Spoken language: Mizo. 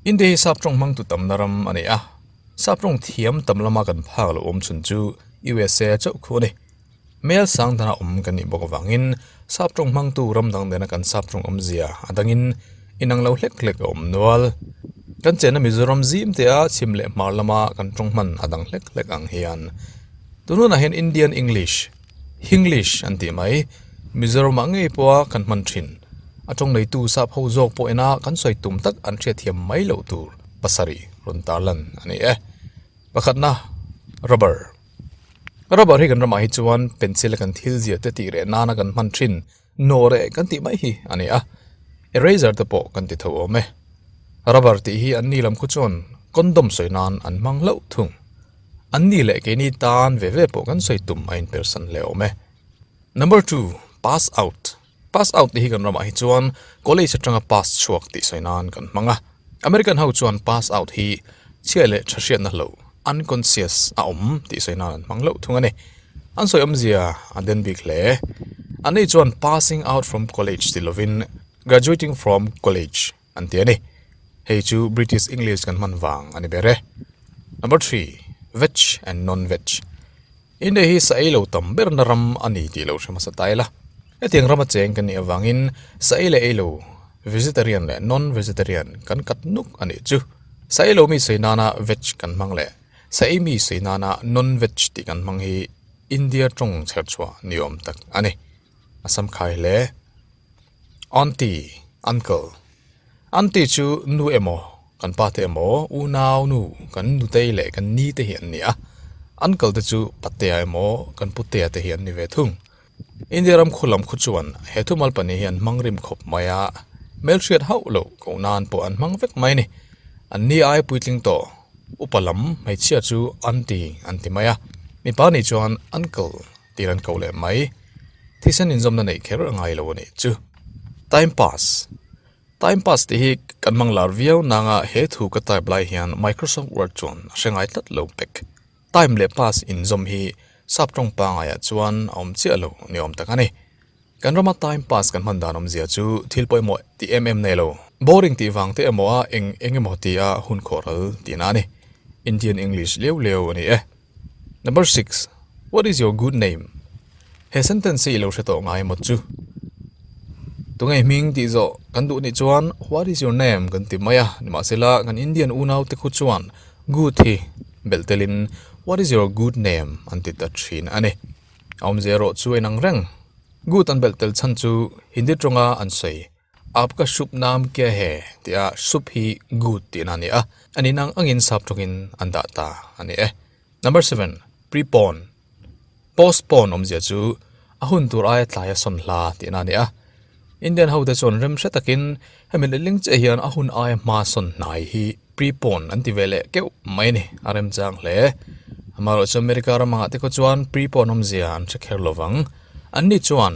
India hi sap tawng hmangtu tamna ram a ni a, sap tawng thiam tam lama kan phak loh awm chhun chu usa a chauh khuh a ni. Hmel sang dana awm kan nih bawk avangin sap tawng hmangtu ram dang dena kan sap tawng awmzia a dangin inang lo hlek hlek a awm nual. Kan chenna Mizoram zim tea chhim leh hmar lama kan tawng hman a dang hlek hlek ang hian tunah hian Indian English. Hinglish an tih mai. Mizoram ah ngei pawha kan hman thin. A tawng nei tu sahpho zawk pawh ina kan sawi tum tak an hriat thiam mai loh tur pasarih rawn tar lan a ni e. Pakhat na, Rubber. Rubber hi kan ramah hi chuan pencil a kan thil zir te tih reh nana kan hman thin. no re kan tih mai hi a ni a eraser te pawh kan ti tho awm e rubber tih hi anni lam khaw chuan condom sawi nan an hmang hlauh thung an ni leh keini tan ve ve pawh kan sawi tum a inper san hle awm e number two pass out pass out tih hi kan ramah hi chuan college atanga pass chhuak tih sawi nan kan hmang a. American ho chuan pass out hi chhiah leh tha hriatna hlo, unconscious, a awm tih sawi nan an hmang loh thung a ni. An sawi awmzia a den bik hle. An ni chuan passing out from college tih lovin graduating from college an ti a ni. Hei chu British English kan hman vang a ni ber e. Number three, veg and non-veg. India hi saei lo tam berna ram a ni tih lo hre hmasa ta ila, hetiang rama cheng kan nih avangin saei leh ei lo, vegetarian leh non-vegetarian, kan kat nuk a nih chu. Saei lo mi sawi nana veg kan hmang leh saei mi sawi nana non-veg tih kan hmang hi India tawng chherchhuah ni awm tak a ni. Assam khai hle. Aunty, uncle, aunty chu nu emaw kan pa te emaw unau nu kan nutei leh kan ni te hi an ni a, uncle te chu patea emaw kan putea te hi an ni ve thung. India ram khaw lam khaw chuan he thu mal pahnih hi an hmang rim khawp mai a, hmelhriat hauh loh koh nan pawh an hmang vek mai a ni. An ni ai puitling tawh, upa lam hmeichhia chu aunty an ti mai a, mipa nih chuan uncle. tir an koh leh mai. Thisen inzawmna neih kher a ngai lo a nih chu. Time pass, time pass tih hi kan hmang lar viau nang a he thu ka type lai hian Microsoft Word chuan a hre ngai tlat lo pek. Time leh pass inzawm hi sap tawng pangai ah chuan a awm chiah lo ni awm tak a ni. Kan rawma time pass kan hman dan awm zia chu thil pawh emaw ti em em nei lo. Boring tih vang te emaw a eng eng emaw ti a hun khawhral tihna a ni. Indian English leu leu a ni e. Number six, What is your good name? He sentence hi i lo hre tawh ngai maw chu? Tunge hming tih zawh kan duh nih chuan What is your name? kan ti mai a, nimahsela kan Indian unaute khu chuan good hi belh telin What is your good name? an ti ta thin a ni. A awmzia erawh chu enang reng good an belh tel chhan chu Hindi ṭawng a an sawi. Apka sup nam kia he tia sup hi good tihna a ni a, a nih nang angin sap tawkin an dah ta a ni e. Number seven, prepone, postpone awmzia chu a hun tur aia tlai a sawn hla tihna a ni a. Indian ho te chuan remhre takin hemi letling chiah hian a hun aia hma sawn hnai hi prepone an ti ve leh keuh mai a ni, a rem chang hle. Amaherawhchu America ramah te khaw chuan prepone awmzia an hre kher lo vang. Anni chuan.